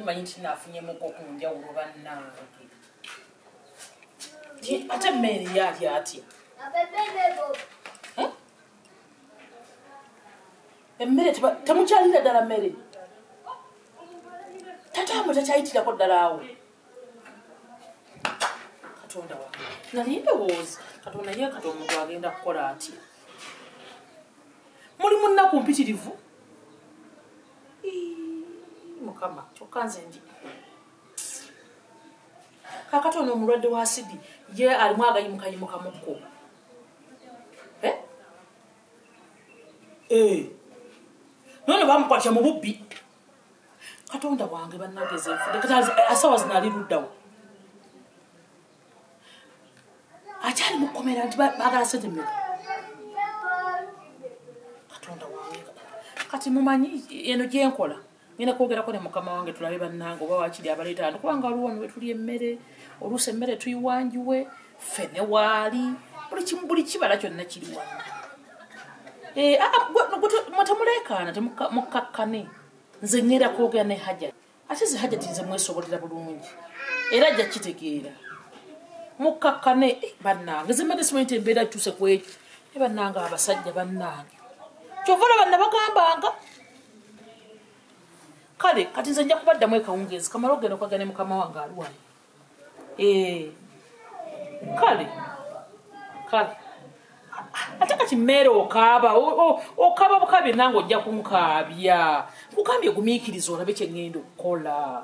manyi nti nafunyemuk okunjawulo bannange ate mmeeri yaali atya emmere temukyalira ddala mmere tataamwe takyayitirako ddala awo katonda wa nali ndowooza katonda ye kati omuntu agenda kukola ati muli munnaku mpitirivu mukama kyokka nze ndi kakati ono omulwadde wa sidi ye alimu agayimukayimukamukko eh. naye ne bamukwatya mu bubbi katonda wange banageza enfudeasawa zinali luddawo akyali mukomera nti bagala sente mmeka katonda wange kati mumanyi eno gyenkola ngenda kwogerako ne mukama wange tulabe bannange oba wakiri abaleeta ano kubanga waliwo wano wetuli emmere oluusi emmere tuyiwanjiwe ffe ne waali buli kibala kyonna kiri wano eh, ah, ah, temuleekaana temukkakkane nze ngenda kwogera ne hajati ate ze hajati nze mwesobolera bulungi era ajja kitegeera mukkakkane eh, bannange zemmere simanyi ti embeera kituuse ku ekyo e bannange abasajja bannange kyova olaba nabagambanga kale kati nze nja kubaddamu ekawungeezi kamala ogenda okwagane mukama wange aliwano eh. kale kale ate kati mmeere okaaba okaaba bukaabye nange ojja kunkaabya kugambye gumiikiriza olabe kye ŋŋenda okukola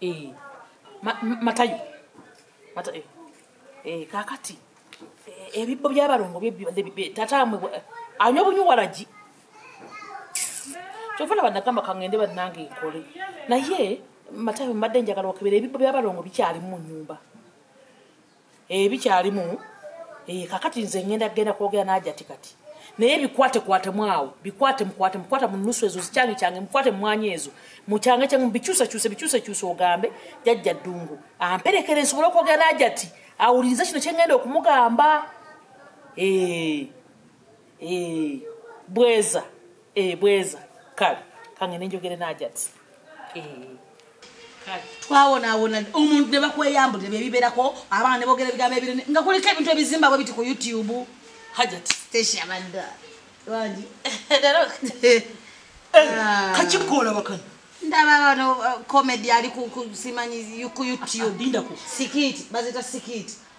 Eh, ma- ma- matayo Mata- eh, eh, kakati eh, ebibbo byabalongo bye bibadde bibe- tata mwe bwa- anywa bunywa waragi kyova laba nagamba kangende banange nkole naye matayo mbadde njagala okebera ebibbo byabalongo bikyalimu mu nyumba ebikyalimu eh, eh, kakati nze ngenda genda kwogera najati kati naye bikwate kwate mwawo bikwate mukwate mukwata mu nusu ezo zikyange kyange mukwate mumwanya ezo mukyange kyange mubikyuse kyuse bikyuse kyuse ogambe jajja ddungu amperekere nsobole okwogera najati awulirize kino kyengenda okumugamba ee eh. eh, bweza eh, bweza kale kange nenjogere najati eh. twawonawona omuntu nebakweyambulire byebiberako abaana nebogera ebigambo ebirene nga kuliko ebintu ebizimba bwe biti ku youtube hajat stacia banda wangi ah. kakikola bakana ndaba bano uh, comedy ali kusimanyi ku youtube ah, ah, sikiti bazita sikiti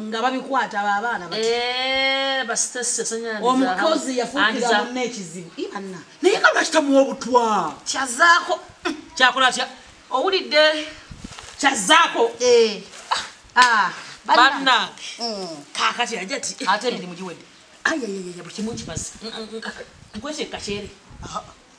nga babikwata babaana eh, omukozi yafuukira munna ekizibu ibanna naye nga lwakitamuwa obutwa kyazaako kyakola tya owulidde kyazaako eh. ah, ah, banna mm. kakati aja ti ate emirimu giwedde ayayayaya buli kimu nkimazi nkwese kakyere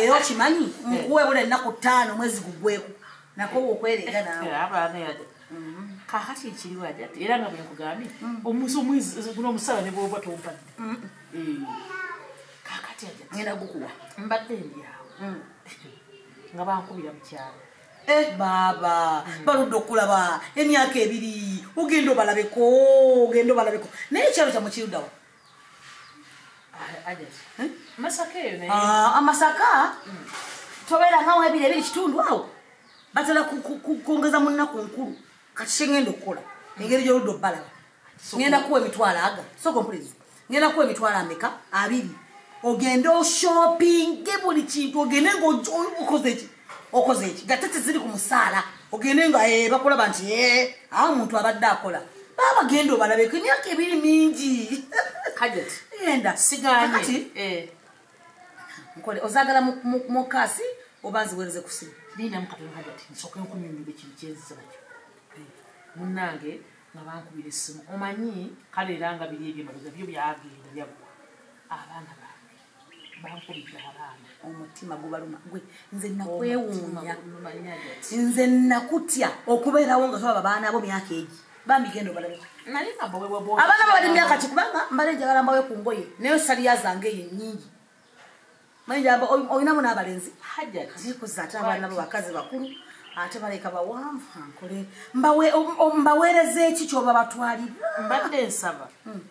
era okimanyi nkuwebula ennaku ttaano mwezi gugweku nakowa okwereega nawe kakati ekiriwo ajati era nga bwekugambye mm. omusomweziguno omusala nebwoba tompadde mm. eh. kakati ajati ngenda gukuwa mbadde ndyawo mm. nga bankubira mukyalo eh, baaba baludde okulaba emyaka ebiri ogenda obalabeko ogenda obalabeko naye ekyalo kyamukirudawo Ah, amasaka mm. tobeera nga webiri ebiri kitundu awo batera kwongeza mu nnaku nkulu kati kyengenda okukola engeri gyoludde obalaba ngenda kuwa emitwalo aga sokompulezi ngenda kuwa emitwalo ameka abiri ogende oshoppinge buli kintu ogende ngaokoze ki okoze eki nga tete ziri ku musaala ogende nga eh, bakulaba nti eh, awo omuntu abadde akola baaba genda obalabeko emyaka ebiri mingi enda siganyekati eh. nkole ozagala mukasi oba nziwereze kusimu munange nga bankubira essimu omanyi kale era nga biri ebyo mabega byo byagenda byagwa abaana bange bankubidde abaana omutima gubaluma gwe nze nakwewuunya nze nakutya okubeerawo nga tolaba baana bo myaka egi bambi genda obalabe abaana babali myaka ki kubanga mbale njagala mbawe ku ngoye naye saliya zange eyo nyingi mayinjaba olinamu n'abalenzi hajatikuza ate abaana bo bakazi bakulu ate baleka bawanvu ankole mbaweereza eki kyoba batwalibwa mbadde nsaba hmm.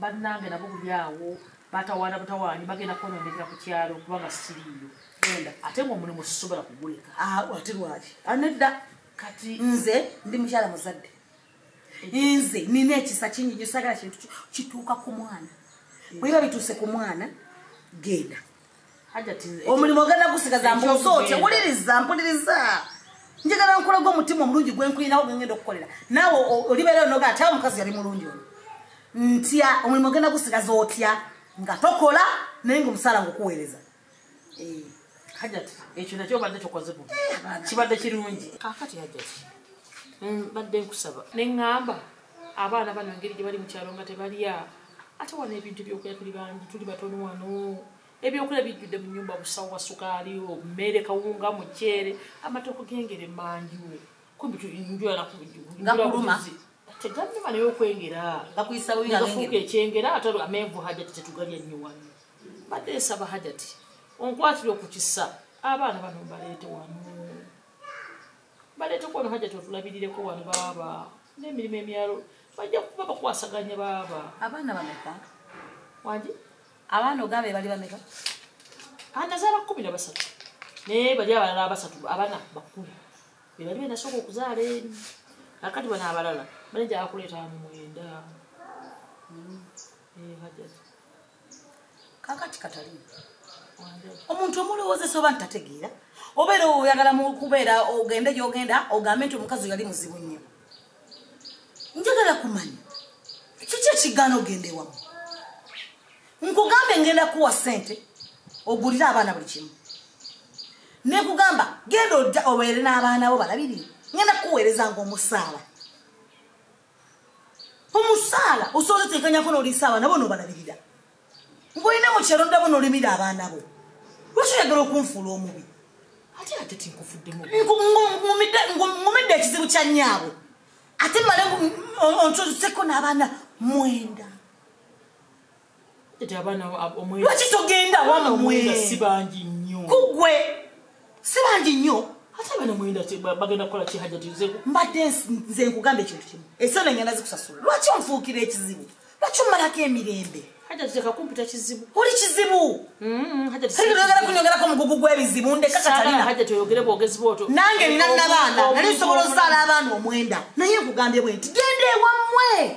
bannange nabo buli awo batawaana butawaanyi bagenda kwonoonekera ku kyalo kubanga siriiyo genda ate ngaomulimu sisobola kuguleka ah, ate lwaki anedda ah, kati nze ndi mukyala muzadde nze nina ekisa kingi nyo sagala kintu kituuka ku mwana bweba bituuse ku mwana genda omulimu ogenda gusigaza mbuuza otya wuliriza mpuliriza njagala nkulaga omutima omulungi gwenkulinawo gwengenda okukolera naawe olibeera onoga ati awo omukazi yali mulungi oyo ntya omulimu ogenda gusigaza otya nga tokola naye nga omusaala ngaokuweereza eh, hajati ekyo nakyo obadde tokoze bu eh, kibadde kirungi kakati hajati mbadde nkusaba neŋŋamba abaana bano engeri gye bali mu kyalo nga tebalya ate wano ebintu ebyokulya tuli bangi tuli batono wano ebyokulya bijjudde mu nyumba busawo wa sukaali omeere kawunga muceere amatooko gengere mangiwo kumbi njulala kugakuluma teganuma naye okwengera gakuyisabufuuka ekyengera ate amenvu hajati tetugalya nnyo wano badde esaba hajati onkwatire okukisa abaana bano mbaleete wano baleeteko wano hajjati otulabirireko wano baaba n'emirimu emyalo bajja kuba bakwasaganya baaba abaana bameka wangi abaana ogamba ebali bameka anazaala ah, kumi na basatu naye bali abalala abasatu abana bakulu bebali benasooka okuzaala eri akati bano abalala banaja akuleeta mumwenda hmm. eh, hajjati kakati katalimu omuntu omulowoozesa oba ntategeera obeera oyagala mukubeera ogende gyogenda ogambe nti omukazi yali muzibu nnyo njagala kumanya kiki ekigaana ogenda ewamu nkugambe ngenda kuwa sente ogulire abaana buli kimu nekugamba genda obeere n'abaana bo balabirire ngenda kukuweereza ngaomusaala omusaala osobola otekanyako noliisa abaana bo nobalabirira ngolina mukyalo ndabo nolimira abaana bo lwaki oyagala okunfuula omubi ate ate tinkufuddemu ngumidde ekizibu kya nyaabo ate male ontozeko n'abaana mwenda lwaki togenda wamwesibangi nyo kugwe sibangi nyo ate bano mwenda bagenda kukola kihajatize mbadde nze nkugamba ekintu kimu esente engenda zikusasula lwaki onfuukira ekizibu lwaki omalako emirembe hajatitekakumpita kizibu oli kizibu mm-hmm. hajatiyogera kunyongerako omugugu gw'ebizibu ndekakatalinahajatiyogere bwogezi bwoto nange nina nabaana nali nsobola ozaala abaana omwenda naye nkugambye bwe nti genda ewammwe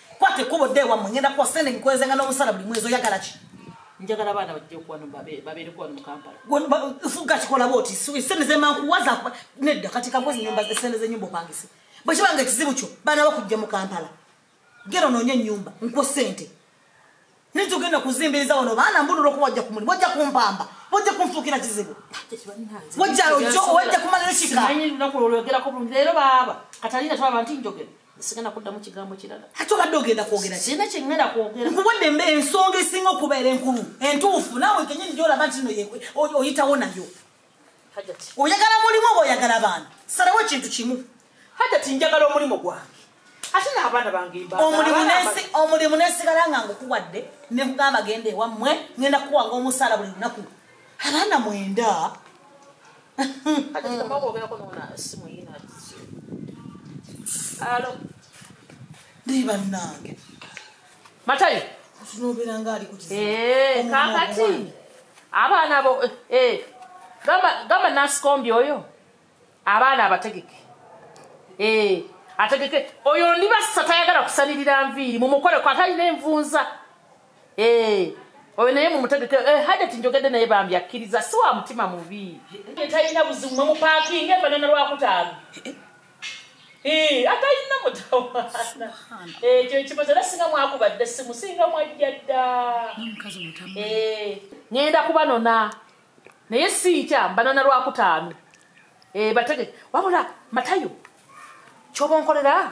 kwata ekkubo dda ewammwe ngenda kuwa sente nkweze nga n'obusala buli mwezi oyagala ki njagala abaana bajja okuwano babeereko wano mu kampala fuga kikola bwoti sente zemankuwaza nedda kati kakozi nyumba sente zenyumba opangise bwe kiba nga ekizibu kyo baana bakujja mu kampala gera onoonye ennyumba nkuwa sente Naye tugenda kuzimbiriza wano baana mbulula okuba wajja kumuli wajja kumpamba wajja kunfuukira kizibu wajja ojo wajja kumala nokika simanyi lunaku lwolwogerako bulungi leero baaba katalina twaba nti njogera sigenda kuddamu kigambo kirala ate obadde ogenda kwogera kirina kyengenda kwogera nkuwadde mbe ensonga esinga okubeera enkulu entuufu naawe kenyini gyolaba nti no oyitawo nayo oyagala mulimu oba oyagala baana salawo ekintu kimu hajati njagala omulimu gwange ate n'abaana bange omulimu nesigala nga ngukuwadde nekugamba genda ewammwe ngenda kukuwanga omusaala buli lunaku abaana mwenda naye bannange matayo eh, kakati abaana bo eh, eh, gamba nasikombi oyo abaana abategeke ategeke oyo ndi basa tayagala kusanirira nviiri mumukoleko atalina envunza oyo naye mumutegeke eh, hajati njogedde naye bambi akkiriza si wa mutima mubi talina buzimu mwemupakinga efanana lwakutaano atalina mutawaana ekyo ekibozo era singa mwakuba dda essimu singa mwajja dda ŋenda kubanona naye sinkya mbanona lwakutaano batege wabula matayo kyoba onkolera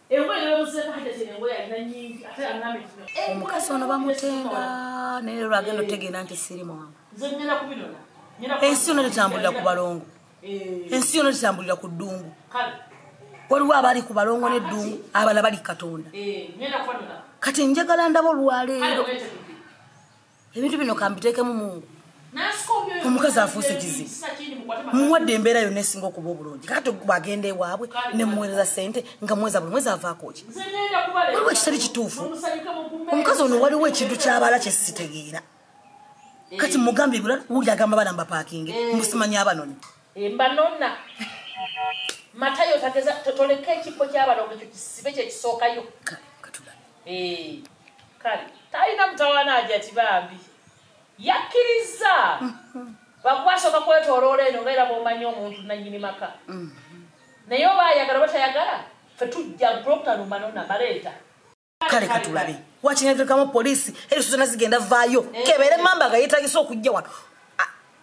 omukazi ono bamutenda naye lero agenda otegenda nti siri mwangu ensi yona tetambulira ku balongo eh. ensi yona tetambulira ku ddungu waliwo abali ku balongo neddungu abala bali katonda eh, kati njagala ndaba olwaleero ebintu bino kambiteekemu mungu omukazi afuuse kizibu muwadde embeera yonna esinga okuba obulungi kati bwagenda ewaabwe nemuweereza sente nga mweza buli mwezi avaakoki waliwo ekitali kituufu omukazi ono waliwo ekintu kyabala kyesitegeera kati mugambye bula wuli agamba bana mbapakinge eh. musimanya abanoni eh, mbanona matayo toleka ekifo kyabana ekyo kisibe kyekisookayo Eh, kale talina mutawana aja kibambi yakkirizza bakwasoka kwetoloola eno nga era bwomanyi omuntu nanyini maka mm. naye oba ayagala oba tayagala fe tujja groptanumanona baleeta kale katulabe wakinagekamu poliisi erisuzana zigenda vaayo eh. kebere mamba nga yetagisa okujja wano